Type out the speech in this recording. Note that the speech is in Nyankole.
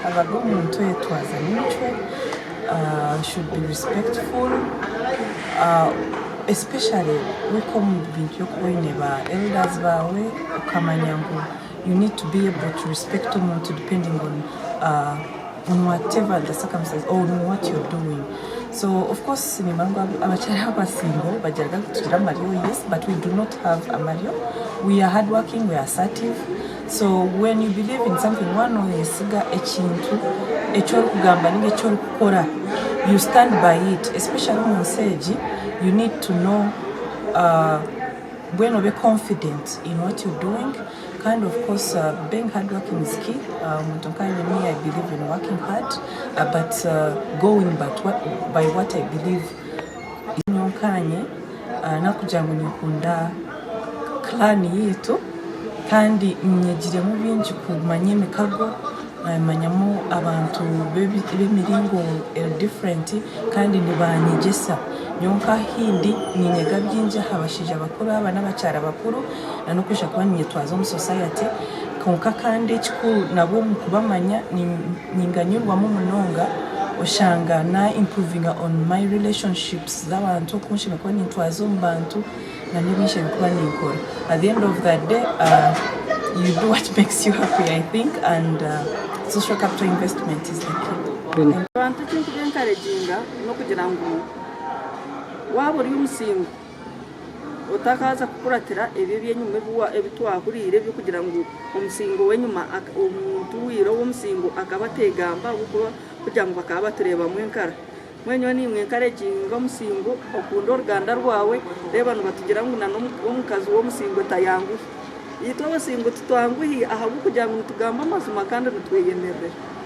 Habaga omuntu oyetwaza micwe, should be respectful especially wika omu bintu by'okuba oine ba elders baawe okamanya ngu you need to be able to respect omuntu depending on on whatever the circumstances or on what you are doing. So of course niimanya ngu abakyari abu ba single bagiraga ngu titwine amaryo yes but we do not have amaryo, we are hardworking, we are assertive So when you believe in something waaba noyesiga ekintu eki orikugamba ninga eki orikukora you stand by it especially omu nsi egi you need to know mbwenu obe confident in what you doing kandi of course being hard working is key omuntu nkanye me I believe in working hard but going by what I believe. Nyowe nkaanye n'okugira ngu ninkunda clan yaitu kandi nyegiremu bingi kumanya emikago, nkamanyamu abantu b'emiringo eri different kandi nibanyegyesa. Nyowe nk'aha ahu ndi niinyega bingi aha bashaija bakuru aba n'abakyara bakuru n'okwija kuba niinyetwaza omu society kwonka kandi ekikuru nabo omu kubamanya Ninganyurwamu munonga oshanga na improvinga on my relationships z'abantu oku nshemereire kuba nintwaza omu bantu na n'ebi nshemereire kuba ninkora. At the end of the day you do what makes you happy I think and social capital investment is the key. Abantu eki nkuba encouraginga n'okugira ngu waaba ori omusingo Otakaaza kukuratira ebyo eby'enyima ebi twahuriire eby'okugira ngu omusingo w'enyima, omuntu ou ira ow'omusingo akaba ateegamba ahabw'okuba kugira ngu bakaba batureebamu enkara. Mbwenu nyowe naimwe enkara egi ninga omusingo, okunde oruganda rwawe, reeba nibatugira ngu n'omukazi w'omusingo tayanguhi. Itwe abasingo titwanguhi ahabw'okugira ngu nitugamba amazima kandi nitweyemerera.